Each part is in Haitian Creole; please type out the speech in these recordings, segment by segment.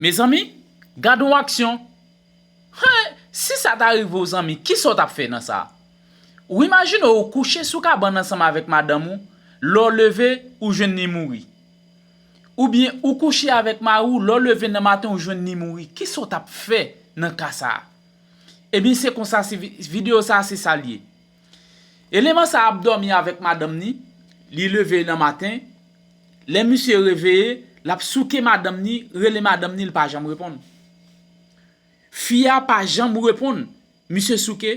Mezanmi gad on aksyon Hee si sa ta rive w zanmi kisa w tap fè nan sa Ou imajine ou kouche sou kabann ansanm avèk madanm ou lè w leve ou jwenn li mouri Oubyen ou kouche avèk mari w lè w leve nan maten ou jwenn li mouri kisa w tap fè nan ka sa Ebyen se konsa se videyo sa se sa l ye. Eleman sa ap dòmi avèk madanm ni, li leve nan maten, lè misye reveye, lap souke madanm ni, rele madanm ni li pa janm reponn. Fi a pa janm reponn, misye souke,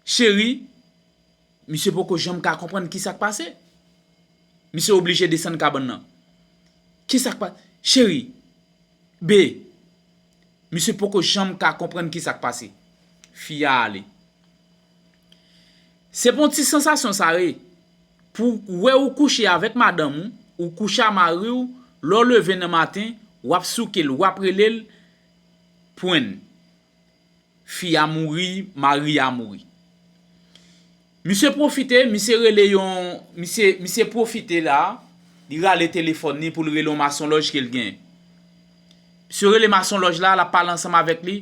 cheri, misye poko janm ka konprann kisak pase. Misye oblije desann kabann nan. Kisak pa, cheri, be, misye poko janm ka konprann kisak pase. Fi a ale. Se pou yon ti sansasyon sa ye pou w wè ou kouche avèk madanm ou, ou kouche a mari w, lè w leve nan maten, w ap souke l, w ap rele l, pwenn. Fi a mouri, mari a mouri. Misye pwofite, misye rele yon, misye, misye pwofite la, li rale telefòn li pou l rele yon masonlòj ke l genyen. Msye rele mason lòj la, l'ap pale ansanm avèk li,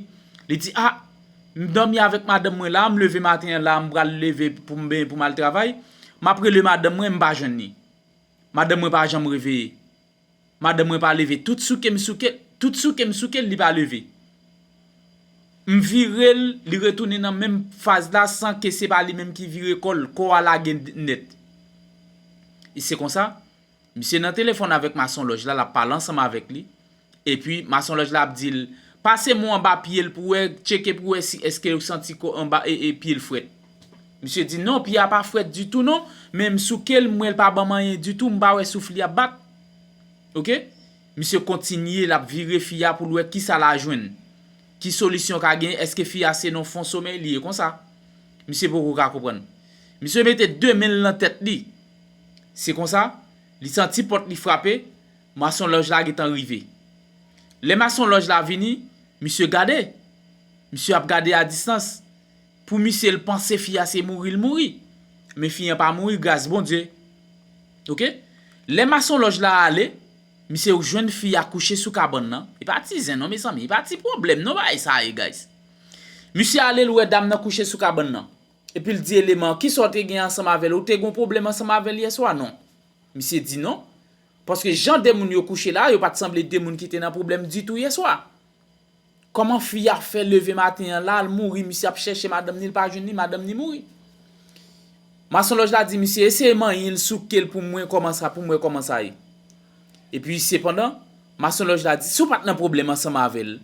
li di, A! M dòmi avèk madanm mwen la a, m leve maten an la a, m pral leve pou m benyen pou m al travay, m'ap rele madanm mwen, m pa jwenn li. Madanm mwen pa janm reveye. Madanm mwen pa leve. Tout souke m souke l, tout souke m souke l, li pa leve. M vire l, li retounen nan menm faz la san ke se pa li menm ki vire kò l, kò a lage nèt. E se konsa. Misye nan telefòn avèk mason lòj la, l ap pale ansanm avèk li, epi mason lòj la ap di l, Pase mo anba pye l pou wè, tcheke pou wè si èske ou santi ko anba e e pye l frèt. Misye di, Non, pye a pa frèt ditou non, men m souke l, m wè l pa ban m anyen ditou, m pa wè souf li ap bat. Ok. Misye kontinye, l ap vire fi a pou l wè kisa l a jwenn. Ki solisyon ka genyen, èske fi a se nan fon somèy li ye konsa. Misye poko ka konprann. Misye mete de men l nan tèt li. Se konsa, li santi pòt li frape, mason lòj la gentan rive. Lè mason lòj la vini, misye gade. Misye ap gade a distans. Pou misye l panse fi a se mouri l mouri. Men fi an pa mouri gras Bondye. Ok. Lè mason lòj la ale, misye jwenn fi a kouche sou kabann nan. E pa ti zen non mezanmi, e pa ti pwoblèm non bagay sa ye guys. Misye ale l wè dam nan kouche sou kabann nan. Epi l di eleman an, Kisa w te gen ansanm avè l? Ou te gen yon pwoblèm ansanm avè l yèswa, non? Misye di non. Paske jan de moun yo kouche la a, yo pa t sanble de moun ki te nan pwoblèm ditou yèswa. Kòman fi a fè leve maten an la, l mouri, misye ap chèche madanm ni, l pa jwenn ni, madanm ni mouri. Masonlòj la di misye, Eseye manyen l, souke l pou m wè kòman sa, pou m wè kòman sa ye. Epi, sepandan, masonlòj la di, Si w pa t nan pwoblèm ansanm avè l,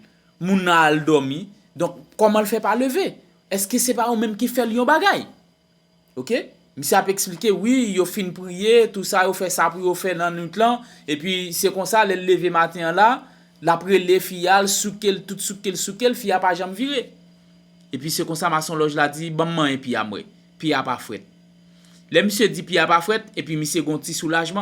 moun nan al dòmi, donk, kòman l fè pa leve? Eske se pa ou menm ki fèl yon bagay ok misye ap esplike wi yo fin priye tou sa yo fè sa pou yo fè nan nwit lan epi se konsa lèl leve maten an la lap rele fi a l soukel tout soukel soukel fi a pa janm vire epi se konsa mason lòj la di banm manyen pi a m wè pi a pa frèt lè misye di pi a pa frèt epi misye gon ti soulajman.